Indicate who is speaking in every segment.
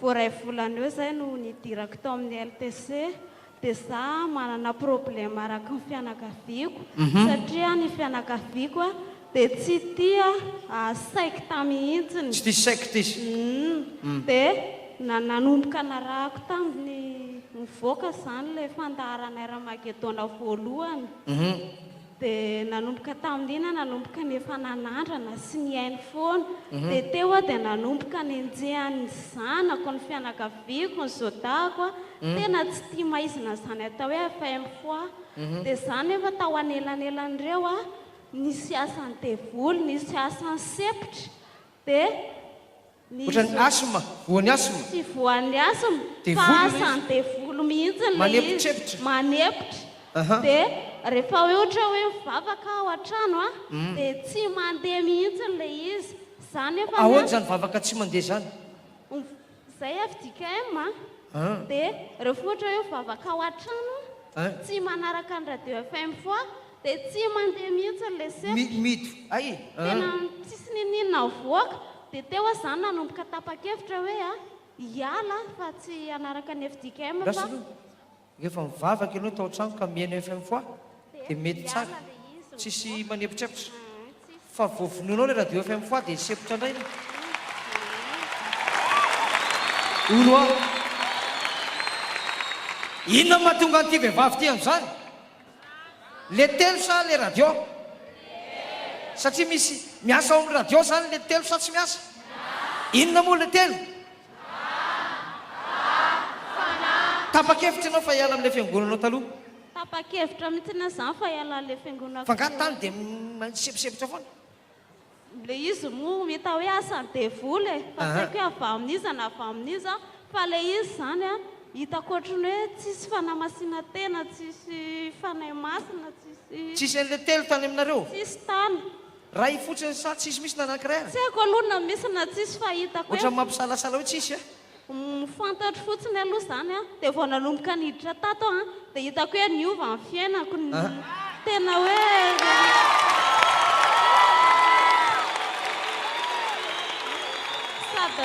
Speaker 1: Vao iray volana eo izay no nidirako tao amin'ny LTC dia izaho manana problème araky ny fianakaviako satria ny fianakaviako dia tsy tia secte mihitsiny. Tsy tia secte izy.
Speaker 2: Humm.
Speaker 1: Dia nanomboka narahako tamin'ny nivoaka izany ilay fandaharanay Ramagedona voalohany. dia nanomboka tamin'iny aho nanomboka ny efa nanandrana sy nihaino foana, dia teo aho dia nanomboka nenjehan'ny zanako, ny fianakaviako, ny zodahako aho, tena tsy tia maizina izany atao hoe FM foa aho, dia izaho nefa tao anelanelan'ireo aho, nisy asan'ny devoly, nisy asan'ny sepotra, dia.
Speaker 2: Ohatran'ny asthme, voan'ny asthme. Tsy voan'ny
Speaker 1: asthme, fa asan'ny devoly mihitsy ilay izy,
Speaker 2: manepotra.
Speaker 1: Dia rehefa hoe ohatra hoe mivavaka aho an-trano an, dia tsy mandeha mihitsy ilay izy. Izany nefa an. Ahoana izany vavaka tsy
Speaker 2: mandeha izany? Izay
Speaker 1: FJKM an, dia rehefa ohatra hoe mivavaka aho an-trano an, tsy manaraka ny radio FM foa, dia tsy mandeha mihitsy ilay sepotra. Mihidy, hay e.
Speaker 2: Tena tsisy
Speaker 1: n'inon'inona mivoaka. Dia teo aho izany nanomboka tapa-kevitra hoe hiala aho fa tsy hanaraka ny fdkm fa. Gasy aloha rehefa
Speaker 2: mivavaka ianao tao an-trano ka mihaino FM foa dia mety tsara, tsisy manepotreptra. Fa vao vonoinao ilay radio FM foa dia hisempotra indray ny. Olo an! Inona no mahatonga an'ity vehivavy ity an'izany? Le telo sa le radio? Satria misy miasa ao amin'ny radio zany le telo sa tsy miasa? Inona moa le telo? Tapa-kevitra ianao fa hiala amin'ilay fiangonanao taloha? Tapa-kevitra
Speaker 1: mihitsy anie zany fa hiala an'ilay fiangonako taloha.
Speaker 2: F'angaha tany dia misebosebotra foana? Ilay
Speaker 1: izy moa hita hoe asan'ny devoly e, fa tsy haiko hoe avy amin'iza na avy amin'iza fa ilay izy izany hitako ohatran'ny hoe tsisy fanamasinantena, tsisy Fanahy Masina, tsisy. Tsisy an'ilay
Speaker 2: telo tany aminareo? Tsisy tany.
Speaker 1: Ray fotsiny
Speaker 2: sa tsisy mihitsy na anankiray ary? Tsy haiko aloha na misy
Speaker 1: na tsisy fa hitako hoe. Ohatran'ny mampisalasala hoe tsisy
Speaker 2: a? Ny fantatro
Speaker 1: fotsiny aloha izany an, dia vao nanomboka niditra tato aho an, dia hitako hoe niova ny fiainako, tena hoe sady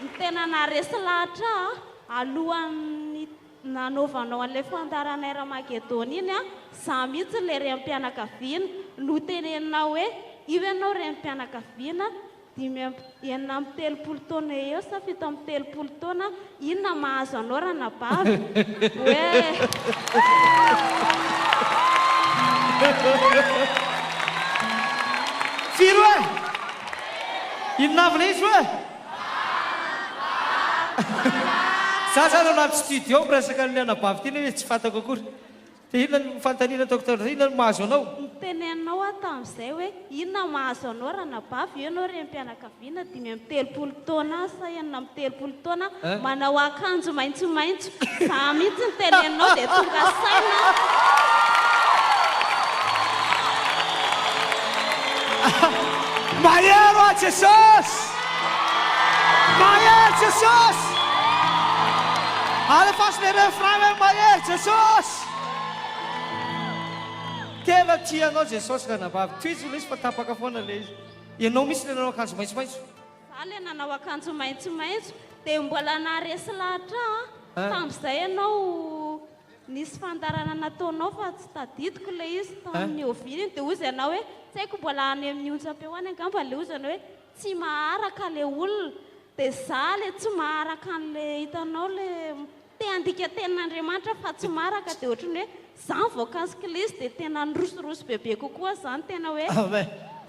Speaker 1: ny tena naharesy lahatra ahy alohan'ny nanaovanao an'ilay fandaharanay Ramagedona iny an, izaho mihitsy ilay renim-pianakaviana, noteneninao hoe io ianao renim-pianakaviana, Dimy amby, enina amby telopolo taona eo eo sa fito amby telopolo taona, inona mahazo anao ranabavy? Oeeh.
Speaker 2: Firy oe? Inona avy ilay izy oe? Za zany ao anaty studio miresaka an'ilay anabavy ity nefa izy tsy fantako akory. Dia inona no fanotaniana Docteur Dia inona no mahazo anao? Niteneninao aho
Speaker 1: tamin'izay hoe inona mahazo anao ranabavy eo ianao renim-pianakaviana dimy amby telopolo taona sa enina amby telopolo taona manao akanjo maitsomaitso za mihitsy niteneninao dia tonga saina aho.
Speaker 2: Mahery hoa Jesosy! Mahery Jesosy! Alefaso le refrain hoe mahery Jesosy! Tena tia anao Jesosy ranabavy. Tohizo lesy fa tapaka foana le izy. Ianao mihitsy le nanao akanjo maitsomaitso. Za le nanao
Speaker 1: akanjo maitsomaitso de mbola naharesy lahatra aho an, tamzay ianao. Nisy fandaharana nataonao fa tsy tadidiko ilay izy tamin'ny nihoviana iny dia hoy izy anao hoe tsy haiko mbola any amin'ny onjam-peo any angamba ilay hoy izy anao hoe tsy maharaka ilay olona dia izaho ilay tsy maharaka an'ilay hitanao ilay te handika tenin'Andriamanitra fa tsy maharaka dia ohatran'ny hoe izaho voakasiky ilay izy dia tena nirosirosy bebe kokoa izany tena hoe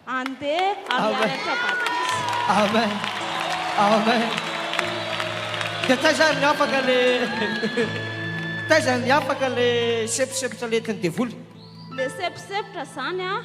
Speaker 1: Andeha amearaka batisa. Amen
Speaker 2: Amen Dia taiza ary ny afaka le Taiza ny afaka le seposepotra lentin'ny devoly Le seposepotra
Speaker 1: zany a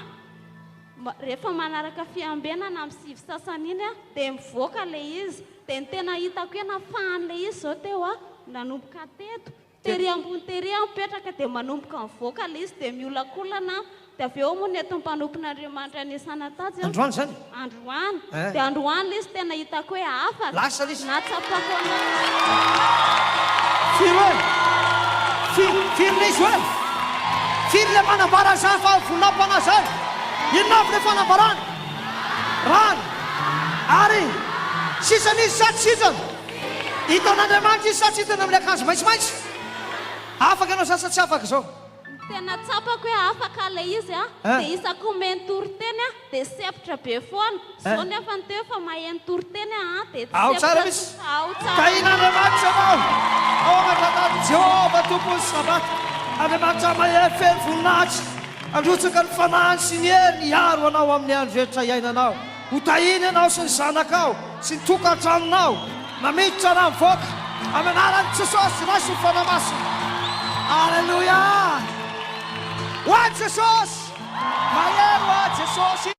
Speaker 1: Rehefa manaraka fiambenana amin'ny sivy sasany iny a Dia mivoaka le izy Dia ny tena hitako hoe nafahany le izy zao teo a Nanomboka teto Tery ambony tery aho mipetraka dia manomboka mivoaka ilay izy dia miolakolana aho dia avy eo moa ny eto mpanompon'Andriamanitra anisana tatsy aho. Androany izany?
Speaker 2: Androany. Eh.
Speaker 1: Dia androany ilay
Speaker 2: izy tena
Speaker 1: hitako hoe hafa. Lasa ilay izy. Nahatsapako an'ilay. Firy
Speaker 2: hoe? Firy, firy ilay izy hoe? Firy ilay manambara an'izany fa voninahim-panahy izany? Inona avy ilay fanambarana? Rano. Ary sisa nisy sady sisa. Hitan'Andriamanitra izy sa tsy hitany amin'ny akanjo maitsomaitso? Afaka ianao sa sa tsy afaka izao? Ny tena tsapako
Speaker 1: hoe afaka ilay izy a, dia isaky ny
Speaker 2: omeny
Speaker 1: toriteny aho dia sempotra be foana. Izao nefa ny teo efa maheno toriteny aho an, dia tsy sempotra intsony fa
Speaker 2: ao tsara.
Speaker 1: Tahian'Andriamanitra
Speaker 2: ianao ao aman-janahary Jehovah Tompon'ny Sabata, Andriamanitra mahery feno voninahitra, handrotsaka ny fanahiny sy ny heriny hiaro anao amin'ny andro rehetra iainanao. Ho tahiny ianao sy ny zanakao sy ny tokantranonao na miditra na mivoaka amin'ny anaran'i Jesosy Ray sy ny Fanahy Masina. Aleloia! Ho an'i Jesosy! Mahery ho an'i Jesosy!